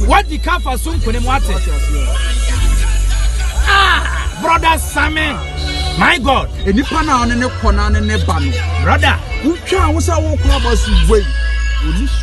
wadi ka afa so nkunim wate ah brother sami my god nipa na ɔne ne kɔ na ne ne ba no brother wotwa wo sɛ wokɔ aba so wei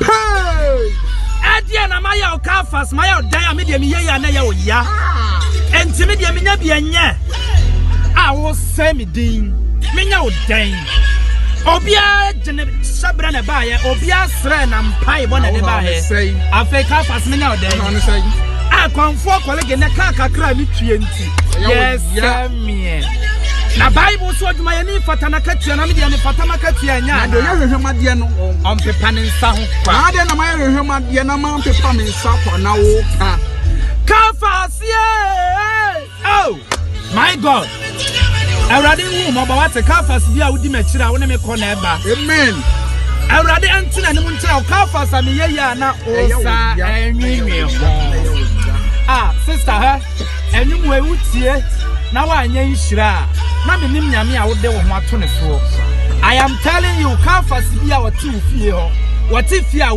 Hey! Ɛdeɛ na mayɛ wo car fast, mayɛ wo dan a me deɛ meyɛ yɛ a na ɛyɛ wo ya. Enti me deɛ menya bi ɛnyɛ a wosɛ me din, menya wo dan. Obiara gyene hyɛbrɛ na ɛbaeɛ, obiara srɛ na mpaebɔ na ɛde baeɛ. Afei car fast menya wo dan. Akwanfoɔ kɔlege na kaa kakra a metue nti. yɛsɛ meɛ na bible nso adwuma yɛ ne mfata na katua na medeɛ mefata ma katua nya na deɛ ɔyɛ hwehwɛm adeɛ no ɔmpepa ne nsa ho kwa na adeɛ na mayɛ hwehwɛm adeɛ na mampepa me nsa kwa na wo ka ka fa aseɛ oh my god awurade nhu mmɔbɔ wate kafas bi a wodi m'akyiri a wo ne me kɔ na ɛba amen awurade ɛnte na anim nkyerɛ wo kafas a meyɛ yie a na wo sa ɛnwenwen ho a sister hɛ Anwummere wotie na woanyɛ nhyira a, na menim Nyame a wode wo ho ato ne soɔ. I am telling you, Kafas bi a ɔte wo fie hɔ, ɔte fie a wo.